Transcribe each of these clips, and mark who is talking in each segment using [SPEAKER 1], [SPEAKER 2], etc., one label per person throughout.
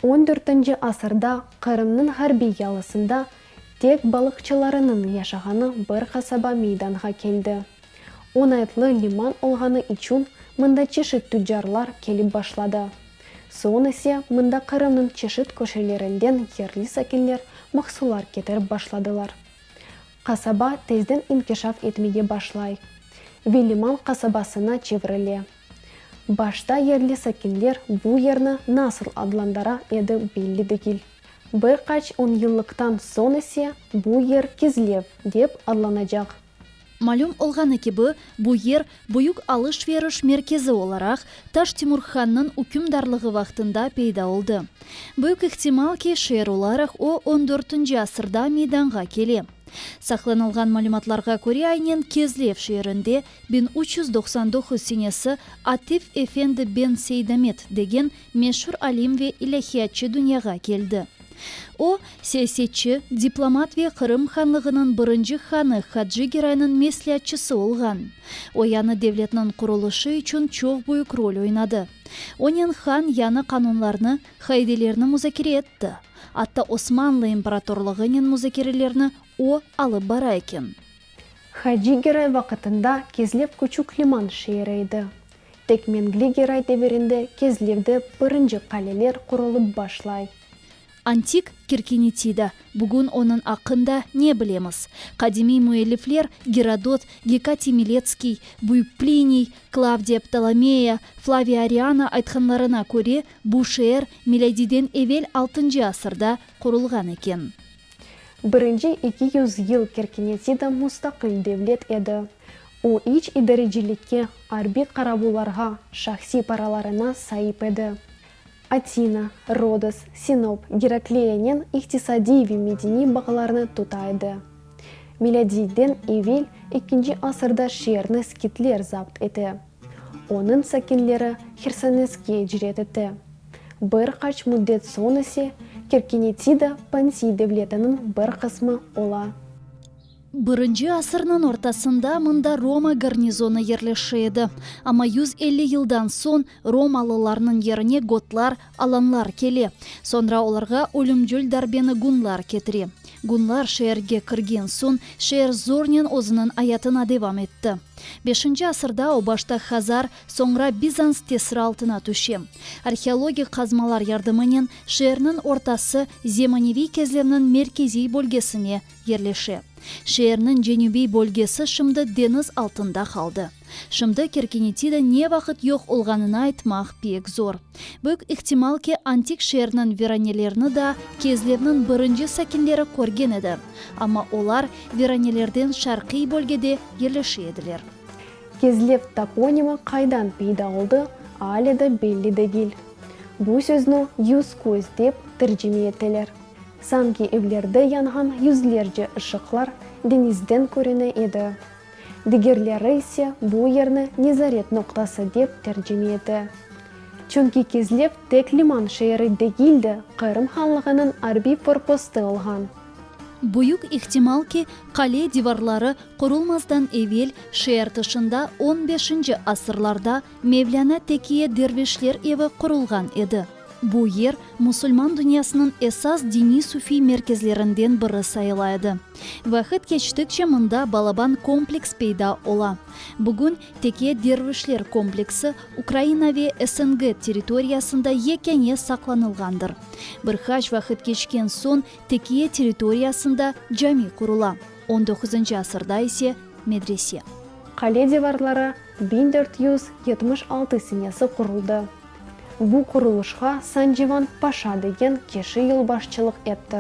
[SPEAKER 1] On dörtünci asırda Qırımnıñ ğarbiy yalısında tek balıqçılarınıñ yaşağanı bir qasaba meydanğa keldi. Oñaytlı liman olğanı içün mında çeşit tüccarlar kelip başladı. Soñ ise mında Qırımnıñ çeşit köşelerinden yerli sakinler mahsullar ketirip başladılar. Qasaba tezden inkişaf etmege başlay ve liman qasabasına çevirile. Başta yerli sakinler bu yerni nasıl adlandıra edi belli degil. Bir qaç on yıllıqtan soñ ise bu yer Kizlev dep adlanacaq. Malüm olğanı kibi, bu yer, büyük alış-veriş merkezi olaraq, Taş Timur hannıñ ükümdarlığı vaqtında peyda oldı. Büyük ihtimal ki, şeer olaraq o on dörtünci asırda meydanğa kele. Saqlanılğan malümatlarğa köre aynen Kezlev şeerinde biñ üç yüz doqsan doquz senesi Atif efendi ben Seydamet degen meşur alim ve ilâhiyatçı dünyağa keldi. O, siyasetçi, diplomat ve Qırım Hanlığınıñ birinci hanı Hacı Geraynıñ mesleatçısı olğan. O yañı devletniñ qurulışı içün çoq büyük rol oynadı. Onen han yañı qanunlarnı, qaidelerni muzakere etti. Atta Osmanlı imperatorlığınen muzakerelerni o, alıp bara eken. Hacı Geray vaqıtında Kezlev küçük liman şeeri edi. Tek Mengli Geray devirinde Kezlevde birinci qaleler qurulıp başlay. Antik Kirkinitida, bugün onıñ aqqında ne bilemiz? Qadimiy müellifler Gerodot, Gekatiy Miletskiy, Büyük Pliniy, Klavdiy Ptolomeya, Flaviy Ariana aytqanlarına köre, bu şeer milâdiden evel altıncı asırda qurulğan eken. Birinci iki yüz yıl Kirkinitida mustaqil devlet edi. O, iç idarecilikke, arbiy qaravullarğa, şahsiy paralarına saip edi. Atina, Rodos, Sinop, Gerakleya'nen iqtisadiy ve medeniy bağlarnı tuta edi. Milâdiyden evel ikkinci asırda şeerni skitler zapt ete. Onıñ sakinleri Hersoneskge icret ete. Bir qaç müddet soñ ise Kerkenetida Pontiy devletiniñ bir qısmı ola. Birinci asırnıñ ortasında mında Roma garnizonı yerleşe edi. Amma yüz elli yıldan soñ romalılarnıñ yerine gotlar, alanlar kele. Soñra olarğa ölümcül darbeni gunlar ketire. Gunlar şeerge kirgen soñ, şeer zornen özüniñ ayatına devam etti. Beşinci asırda o başta hazar, soñra Bizans tesiri altına tüşe. Arheologik qazmalar yardımınen şeerniñ ortası zemaneviy kezlevniñ merkeziy bölgesine yerleşe. Şeerniñ cenübiy bölgesi şimdi deñiz altında qaldı. Şimdi Kerkenitida ne vaqıt yoq olğanını aytmaq pek zor. Büyük ihtimal ki, antik şeerniñ viranelerini da Kezlevniñ birinci sakinleri körgen edi, amma olar viranelerden şarqiy bölgede yerleşe ediler. Kezlev toponimi qaydan peyda oldı, ale de belli degil. Bu söznü yüz-köz dep tercime eteler. Sanki evlerde yanğan yüzlerce ışıqlar deñizden körüne edi. Digerleri ise bu yerni nezaret noqtası dep tercime ete. Çünki Kezlev tek liman şeeri degil de, Qırım hanlığınıñ arbiy forpostı olğan. Büyük ihtimal ki, qale divarları qurulmazdan evel, şeer tışında on beşinci asırlarda Mevlâna Tekiye dervişler evi qurulğan edi. Bu yer musulman dünyasınıñ esas diniy-sufiy merkezlerinden biri sayıla edi. Vaqıt keçtikçe mında balaban kompleks peyda ola. Bugün Teke dervişler kompleksi Ukraina ve SNG territoriyasında yekâne saqlanılğandır. Bir qaç vaqıt keçken soñ Tekiye territoriyasında cami qurula, on doquzıncı asırda ise, medrese. Qale divarları biñ dört yüz yetmiş altı senesi quruldı. Bu qurulışqa Sancivan Paşa degen kişi yolbaşçılıq etti.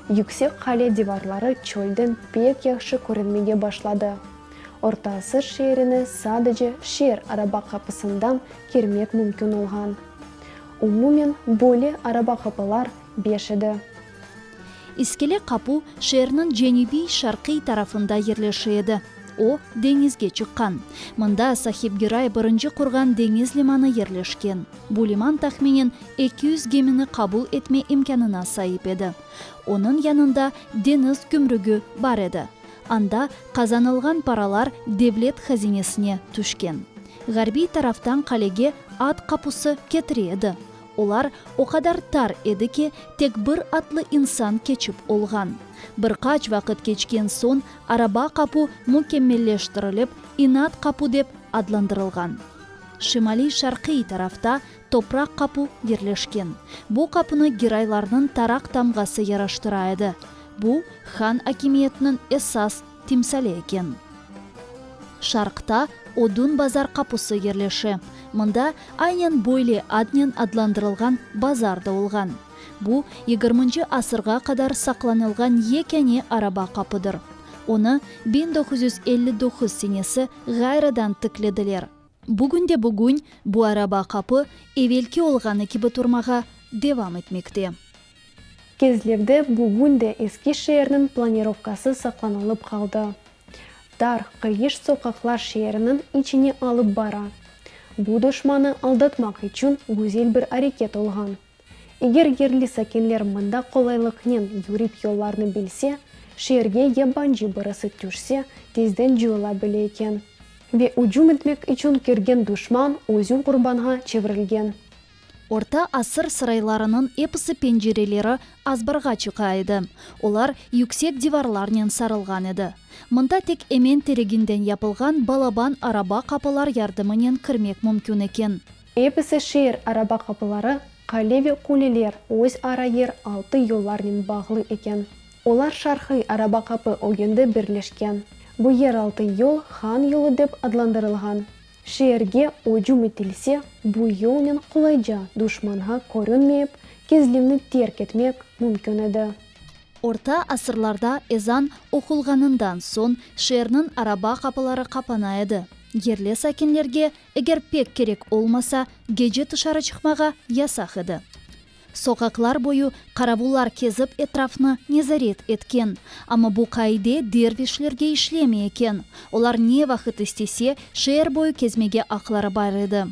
[SPEAKER 1] Yüksek qale divarları çölden pek yahşı körünmege başladı. Orta Asır şeerine sadece şeer araba qapısından kirmek mümkün olğan. Umumen, böyle araba qapılar beş edi. İskele Qapu, şeerniñ cenübiy-şarqiy tarafında yerleşi edi. O, deñizge çıqqan. Mında Sahibgiray birinci qurğan deñiz limanı yerleşken. Bu liman tahminen eki yüz gemini qabul etme imkânına saip edi. Onıñ yanında deñiz gümrügi bar edi. Anda qazanılğan paralar devlet hazinesine tüşken. Ğarbiy taraftan qalege at qapusı ketire edi. Olar o qadar tar edi ki, tek bir atlı insan keçip olğan. Bir qaç vaqıt keçken soñ araba qapu mükemmelleştirilip, inat qapu dep adlandırılğan. Şimaliy-şarqiy tarafta topraq qapu yerleşken. Bu qapunı giraylarnıñ taraq tamğası yaraştıra edi. Bu, han akimiyetiniñ esas. timsali eken. Şarqta Odun bazar qapusı yerleşe. Mında aynen böyle adnen adlandırılğan bazar da olğan. Bu, yigirminci asırğa qadar saqlanılğan yekâne araba qapıdır. Onı biñ doquz yüz elli doquz senesi ğayrıdan tiklediler. Bugün de bugün bu araba qapı evelki olğanı kibi turmağa devam etmekte. Kezlevde bugün de eski şeerniñ planirovkası saqlanılıp qaldı. Dar, qıyış soqaqlar şeerniñ içine alıp bara. Bu duşmanı aldatmaq içün güzel bir areket olğan. Eger yerli sakinler mında qolaylıqnen yürip yollarnı bilse, şeerge yabancı birisi tüşse, tezden cıyıla bile eken. Ve ücüm etmek içün kirgen duşman özü qurbanğa çevirilgen. Orta asır saraylarınıñ episi pencereleri azbarğa çıqa edi. Olar yüksek divarlarnen sarılğan edi. Mında tek emen tereginden yapılğan balaban araba qapılar yardımınen kirmek mümkün eken. Episi şeer araba qapıları, qale ve quleler öz ara yer altı yollarnen bağlı eken. Olar şarqiy araba qapı ögende birleşken. Bu yer altı yol Han yolu dep adlandırılğan. Şeerge ücüm etilse, bu yolnen qolayca duşmanğa körünmeyip, Kezlivni terk etmek mümkün edi. Orta asırlarda ezan oqulğanından soñ şeerniñ araba qapıları qapana edi. Yerli sakinlerge, eger pek kerek olmasa, gece tışarı çıqmağa yasaq edi. Soqaqlar boyu qaravullar kezip etrafnı nezaret etken. Amma bu qaide dervişlerge işlemey eken. Olar ne vaqıt istese, şeer boyu kezmege aqları bar edi.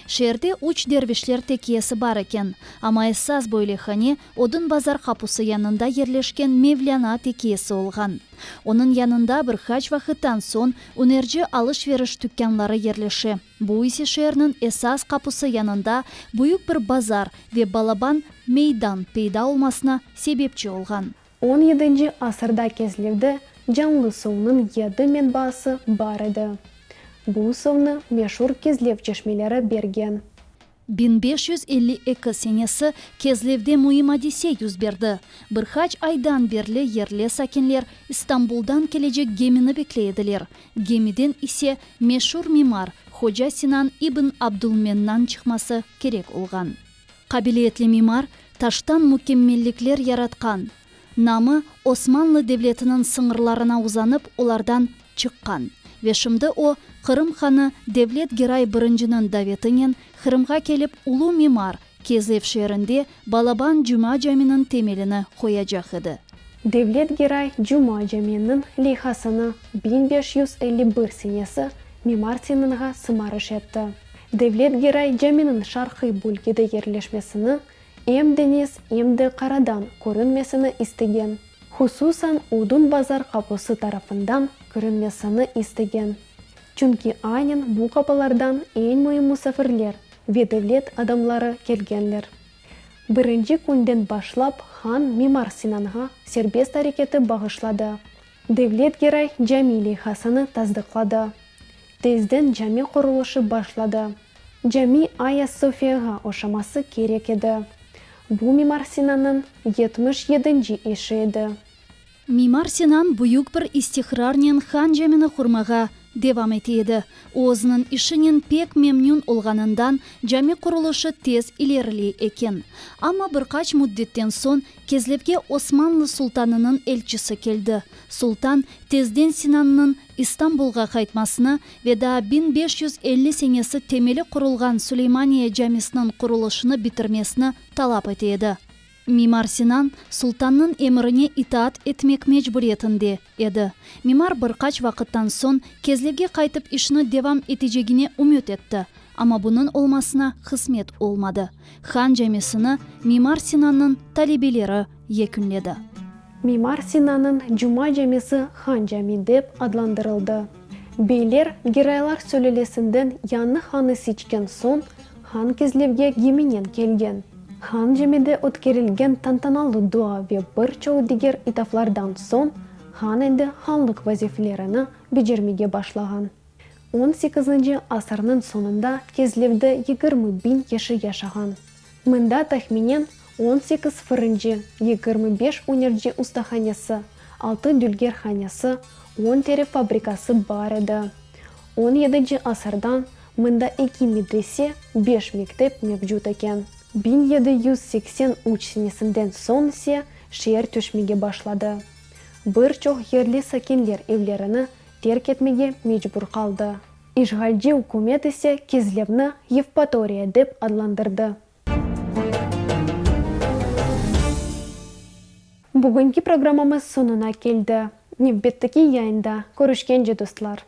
[SPEAKER 1] Şeerde üç dervişler tekiyesi bar eken. Amma esas böyle hane Odun bazar qapusı yanında yerleşken Mevlâna tekiyesi olğan. Onıñ yanında bir qaç vaqıttan soñ ünerci alış-veriş tükânları yerleşe. Bu ise şeerniñ esas qapusı yanında büyük bir bazar ve balaban meydan peyda olmasına sebepçi olğan. On yedinci asırda Kezlivde canlı suvnıñ yedi menbaası bar edi. Bu suvnı meşur Kezlev çeşmeleri bergen. Biñ beş yüz elli eki senesi Kezlevde müim adise yüz berdi. Bir qaç aydan berli yerli sakinler İstanbuldan kelecek gemini bekley ediler. Gemiden ise meşur mimar Hoca Sinan ibn Abdulmennan çıqması kerek olğan. Qabiliyetli mimar, taştan mükemmellikler yaratqan, Namı Osmanlı devletiniñ sıñırlarına uzanıp olardan çıqqan ve şimdi o, Qırım hanı Devlet Geray Birinciniñ davetinen Qırımğa kelip ulu mimar Kezev şeerinde Balaban Cuma caminiñ temelini qoyacaq edi. Devlet Geray Cuma caminiñ leyhasını biñ beş yüz elli bir senesi mimar Seminğa sımarış etti. Devlet Geray caminiñ şarqiy bölgede yerleşmesini Em deñiz, em de qaradan körünmesini istegen. Hususan Odun bazar qaposı tarafından körünmesini istegen. Çünki aynen bu qapolardan eñ müim musafirler ve devlet adamları kelgenler. Birinci künden başlap han Mimar Sinanğa serbest areketi bağışladı, Devlet Geray cami leyhasanı tasdıqladı. Tezden cami qurulışı başladı. Cami Aya Sofiyağa oşaması kerek edi. Bu Mimar Sinannıñ yetmiş yedinci işi edi. Mimar Sinan büyük bir istiqrarnen Han camini qurmağa devam ete edi. O özüniñ işinen pek memnün olğanından, cami qurulışı tez ileriley eken. Amma bir qaç müddetten soñ Kezlevge Osmanlı sultanınıñ elçisi keldi. Sultan, tezden Sinannıñ İstanbulğa qaytmasını ve daa biñ beş yüz elli senesi temeli qurulğan Süleymaniye camisiniñ qurulışını bitirmesini talap ete edi. Mimar Sinan, sultannıñ emrine itaat etmek mecburiyetinde, Edi. Mimar bir qaç vaqıttan soñ Kezlevge qaytıp işni devam etecegine ümüt etti, amma bunıñ olmasına qısmet olmadı. Han Camisini Mimar Sinannıñ talebeleri yekünledi. Mimar Sinannıñ Cuma Camisi Han Cami dep adlandırıldı. Beyler, giraylar sülelesinden yañı hanı seçken soñ, han kezlevge geminen kelgen. Han camide ötkerilgen tantanalı dua ve bir çoq diger itaflardan soñ, han endi hanlıq vazifelerini becermege başlağan. On sekizinci asırnıñ soñunda kezlevde yigirmi biñ kişi yaşağan. Mında tahminen on sekiz fırıncı, yigirmi beş ünerci ustahanesi, altı dülgerhanesi, on teri fabrikası bar edi. On yedinci asırdan mında eki medrese, beş mektep mevcut eken. Biñ yedi yüz seksen üç senesinden soñ ise şeer töşmege başladı. Bir çoq yerli sakinler evlerini terk etmege mecbur qaldı. İşğalci ükümet ise Kezlevni Yevpatoriya dep adlandırdı. Bugünki programmamız soñuna keldi. Nevbetteki yayında körüşkence dostlar.